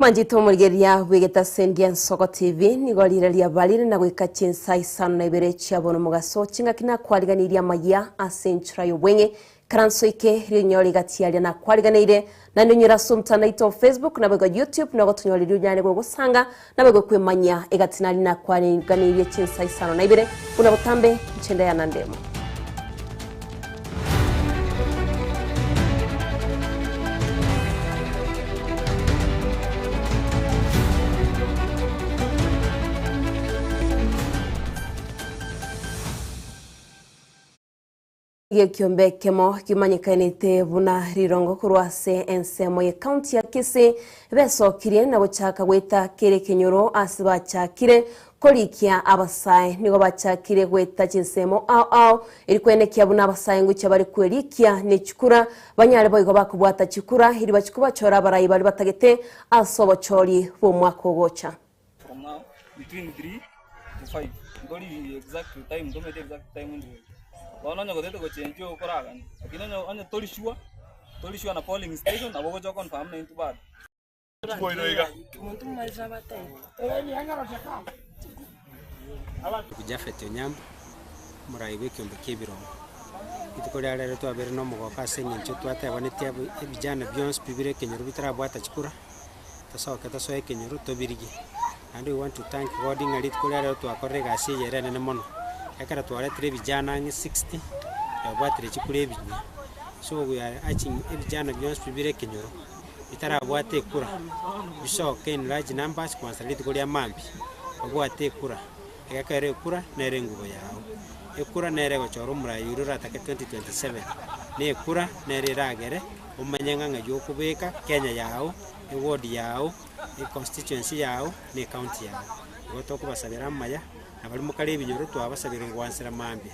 Manchete omorigeria bwegete ase endia Nsoko TV nigo riire riaba rire na goika chinsa isano na ibere chia bono omogaso ching'aki nakwaariganirie amaya ase enchera y'obweng'e Karanso eke rionyore rigatiaria na kwariganeire naende onyore ase omtanda oito o Facebook na boigo YouTube na ogotonyore riria onyare gogosanga na boigo kwemanyia egati nari nakwariganeirie chinsa isano na ibere buna botambe inche nde Anna Ndemu. Gekiombe ekemo kimanyekainete buna Rirongo korwa ase ensemo ye county ya Kisii besokirie na gochaka goeta kere ekenyoro ase bachakire korikia abasae. Nigo bachakire goeta chinsemo ao ao eri koenekia buna abasae enguche bare kwerikia ne chikura banyare boigo bakobwata chikura eri bachikobachora abarai bare batagete ase obochori bw'omwaka ogocha. Japhet Onyango, omoraai bw'ekeombe ki'ebirongo, Rituko ria rero twabeire nomogoka ase eng'encho twatebanitie abwo ebijana bionsi bibire ekenyoro bitarabwata chikura, tosoke tosoe ekenyoro tobirigie. Naende we want to thank God ng'a rituko ria rero twakorire egasi eye ere enene mono, ekero twaretire ebijana ang'e sixty, twabwatire chikura ebinya. So we are urging ebijana bionsi bire ekenyoro, bitarabwate ekura, bisoke in large numbers kwansa rituko ria maambia, babwate ekura. Egekero ekura nere engubo yao. Ekura nere egochora omoraia oria oratake 2027. Na ekura nere eragere omanye ng'a ng'ai okobeka Kenya yao, eward yao, econstituency yao, na ecounty yao. Igo tokobasabera amaya, na baria mokare ebinyoro twabasabire gwansera mambia.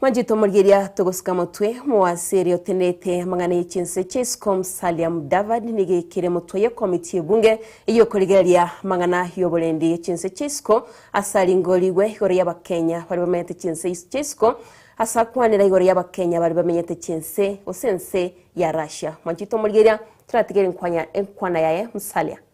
Mwanchete omorigeria togosika motwe moase ere otenderete amang'ana ye chinse chia isiko Musalia Mudavadi nigo ekere motwe ye komiti ye bunge eye okorigereria amang'ana y'oborendi ye chinse chia isiko ase aringorigwe igoro y'abakenya bare bamenyete chinse chia isiko ase akwanera igoro y'abakenya bare bamenyete chinse gose ense ya Russia. Mwanchete omorigeria toratigere enkwanya enkwana yaye Musalia.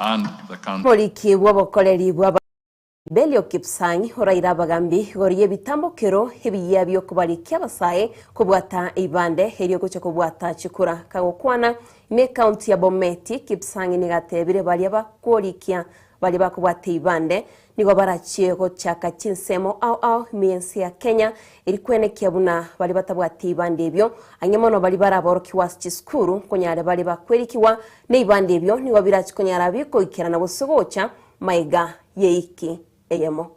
Omoriki bw'obokoreri bw'Abaisraeli Belio Kipsang' oraire abagambi igoro y'ebitambokero ebiya bi'okobarikia abasae kobwata eibande erio gochia kobwata chikura. Kagokwana ime ekaunti ya Bomet, Kipsang' nigo ateebire baria bakorikia baria bakobwata eibande, Nigo barachie gochaka chinsemo ao ao ime y'ense ya Kenya eri kwenekia buna baria batabwati eibanda ebio, ang'e mono baria baraborokigwa ase chisukuru, nkonyare baria bakwerikigwa neibanda ebio nigo birachie konyara bikoikerana gose gocha maega y'eiki eyemo.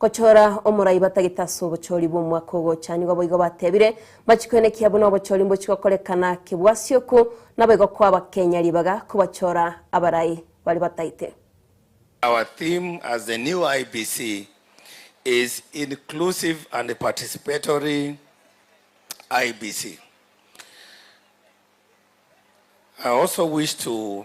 Gochora omorai batagete ase obochori bw'omwaka ogocha. Nigo boigo batebire, Mbachikwenikia buna obochori mbochigokorekana kebwasi oku, naboigo kwaba kenya ribaga kobachora abarai baria batagete. Our theme as the new IEBC is Inclusive and Participatory IEBC. I also wish to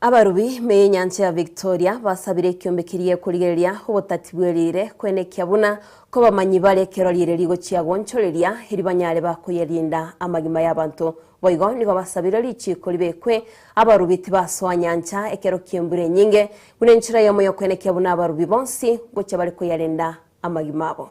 Abarubi b'enyancha ya Victoria basabire ekiombe keria korigereria obotati bwe riire kwenekia buna kobamanyi bare ekero riire rigochia goonchoreria eri banyare bakoyerinda amagima y'abanto. Boigo nigo basabire richiiko ribekwe abarubi tibasoa nyancha ekero ki'embura enyinge, buna enchera y'omoyo kwenekia buna abarubi bonsi ngochia bare koyarenda amagima abo.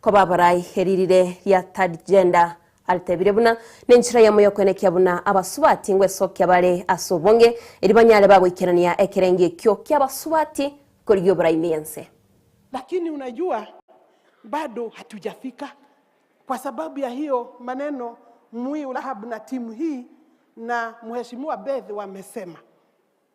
Koba abarai eririre ria third gender aritebire buna nenchera yamo yokwenekia buna abasubati ngwesokia bare ase obonge eri banyare bagoikerania ekerengo ekio kiabasubati korigia oborai ne ense. Lakini unajua bado hatujafika kwa sababu ya hiyo maneno Mwiu Rahab na timu hii na mheshimiwa Beth wamesema.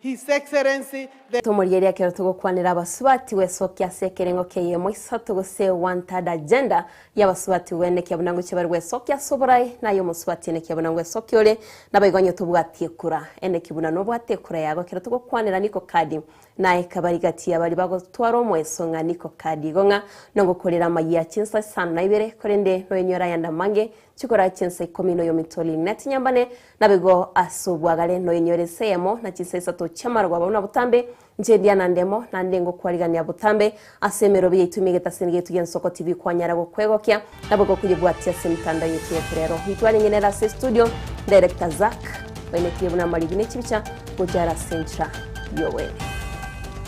His Excellency the. Tomorigerie ekero togokwanera abasubati gwesokia ase ekerengo k'eyemo isato gose one third agenda y'abasubati gwen ekiya buna ngochia bare gwesokia ase oborae na ay'omosubati en ekiya buna ngwesokia ore naboigo onye tobwati ekura en eki buna nobwate ekura yago ekero togokwanera niko kadi naye kabari gati yabari bagotwara omoeso ng'a niko kadi igo ng'a nongokorera amayia chinsa isano na ibere korende noyenyore ayande amange chikorae chinsa ikomi noyominto ling'na tinyambane Naboigo as'obwagare noinyore ise eyemo na chinsa isato chi'amarogo abo buna botambe, inche ndia na ndemo, naende ngokwarigania botambe, as'emerobi yaito emegete ase enegena yaito y'ensoko tibikwanyara gokwegokia, naboigo koyebwatia as'emitanda yaito y'ekerero. Intwe are ng'inere ase studio, Director Zack, bainetie buna amarigi ne chibicha gocha are as'enchera y'Oboene.